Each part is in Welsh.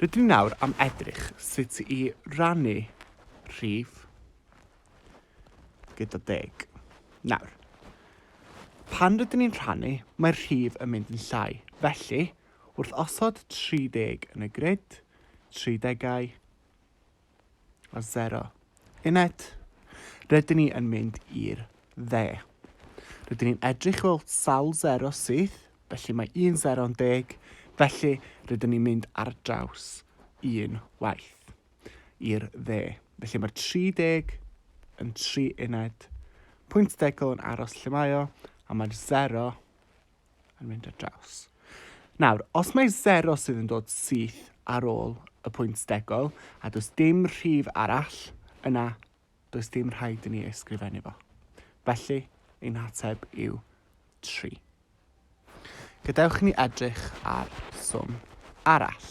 Rydyn ni nawr am edrych sut i rannu rhif gyda deg. Nawr, pan rydyn ni'n rhannu, mae'r rhif yn mynd yn llai. Felly, wrth osod 30 yn y grid, 30au, a sero. Uned, rydyn ni yn mynd i'r dde. Rydyn ni'n edrych fel sawl sero syth, felly mae un sero'n deg, felly rydyn ni'n mynd ar draws un waith i'r dde. Felly mae'r 30 yn tri uned, pwynt degol yn aros lle mae o, a mae'r sero yn mynd ar draws. Nawr, os mae zero sydd yn dod syth ar ôl y pwynt stegol, a does dim rhif arall, yna does dim rhaid i ni ei sgrifennu fo. Felly, ein hateb yw 3. Gadewch i ni edrych ar swm arall.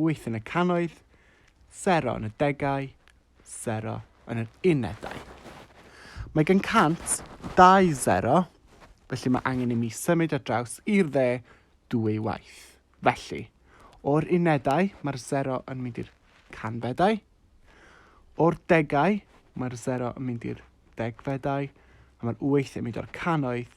Wyth yn y cannoedd, sero yn y degau, sero yn yr unedau. Mae gan 120, felly mae angen i mi symud ar draws i'r dde dwy waith. Felly, o'r unedau mae'r sero yn mynd i'r canfedau, o'r degau mae'r sero yn mynd i'r degfedau, a mae'r wyth yn mynd o'r cannoedd